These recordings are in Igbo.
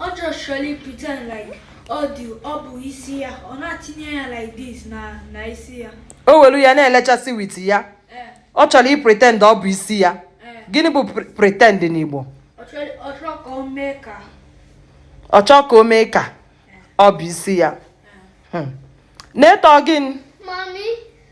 ọ just chọrọ i pretend like ọ dị ọ bụ isi ya ọ na-atinye ya like this na na isi ya o welu ya na-elechasị with ya eh. ọ chọrọ i pretend ọ bụ isi ya eh. gịnị bụ pretend n'Igbo ọ chọrọ ka o mee ka ọ chọọ ka o mee ka ọ bụ isi ya hmm. na-eto gịnị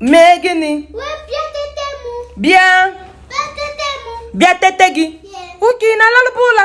mee gịnị bịa bịa tete gị ka ị na-alalụbu ụla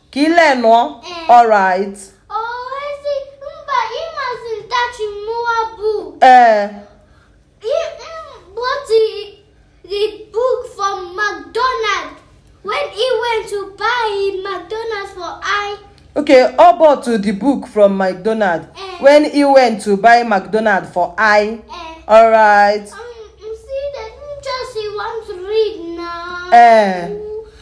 ka ile nụọ eh. alright oezi mba ịmazi ntachi mmụọ bụ ee okay ọ bought the book from mcdonald eh. when he went to buy mcdonald for i eh. alright um, see the teacher she want to read now eh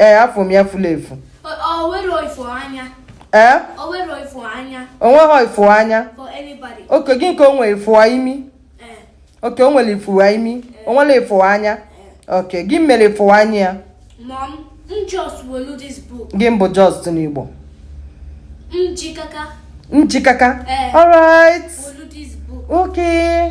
ee afọ m ya furu efu ee onweghị ifu anya okay gịnị ka o nwere ifu imi okay o nwere ifu imi o nwere ifu anya okay gịnị mere ifu anya ya gịnị bụ just n'Igbo njikaka njikaka eh. all right okay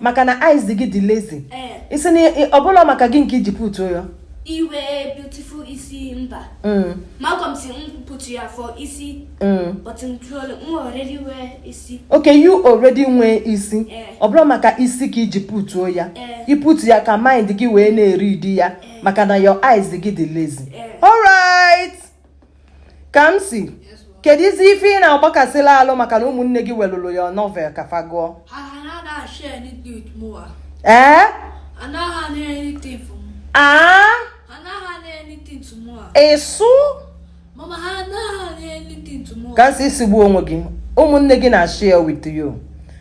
maka na eyes gị dị lazy eh. ị sị na ọ bụlụ maka gịnị ka i ji put ya i wee beautiful ị sị mba mm. Malcolm sị m put ya for isi mm. but m already wear isi okay you already wear isi eh. ọ bụlụ maka isi ka i ji putuo ya eh. i put ya ka mind gị wee na-read ya maka na your eyes gị dị lazy alright ka m sị keduzi ife ị na-agbakasịla alụ maka na ụmụnne gị welụrụ ya novel ka fa gụọ ee aa ịsụ ka m si isigbu onwe gị ụmụnne gị na-share with you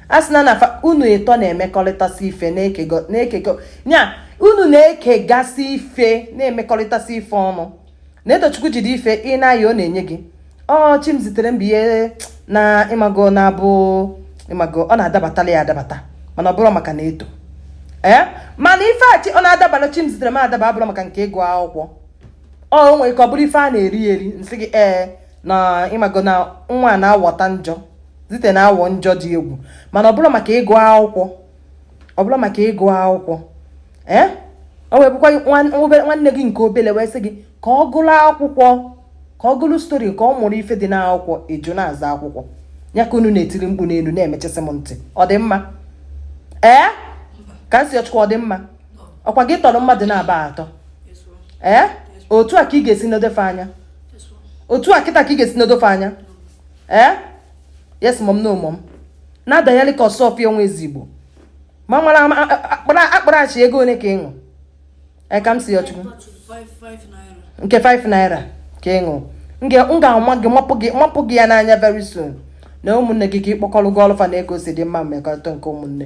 a sị na na unu ịtọ na-emekọrịtasị ife na-ekekọ ya unu na-ekegasị ife na-emekọrịtasị ife ọnụ Naetochukwu jide ife ị na-ayọ ọ na-enye gị ọ Chimziterem ihe na ịmago na-abụ ịmago ọ na-adabatala ya adabata mana ọ bụrụ maka Naeto ee eh? mana ife a ọ na-adabara Chimziterem adaba ọ bụrụ maka nke ịgụ akwụkwọ ọ nwere ka ọ bụrụ ife a na-eri eri m sị gị ee eh, na ịmago na nwa na-awọta njọ Zite na-awọ njọ dị egwu mana ọ bụrụ maka ịgụ akwụkwọ ọ bụla maka ịgụ akwụkwọ ee eh? o wee bụkwa nwanne gị nke obele wee sị gị ka ọ gụrụ akwụkwọ ka ọ gụrụ stori ka ọ mụrụ ife dị n'akwụkwọ ị jụ na-azọ akwụkwọ ya ka unu na-etiri mkpu n'enu na-emechisi m ntị ọ dị mma ee eh? Kamsiyọchukwu ọ dị mma ọ kwa gị tọrọ mmadụ naabọ a atọ ee eh? otu a ka ị ga-esi nedo fa anya otu a kịta ka ị ga-esi nedo fa anya ee yes mom no mom na-adanyeli ka Osuọfịa onwe ezigbo ma mara akparachi ego ole ka ị wụ e Kamsiyọchukwu nke 5 naira ka ị wụ m ga-ama gị mapụ gị ya n'anya very soon na ụmụnne gị ka ị kpọkọrọ gụọlụ fa na-egosi ịdị mma mmekọrịta nke ụmụnne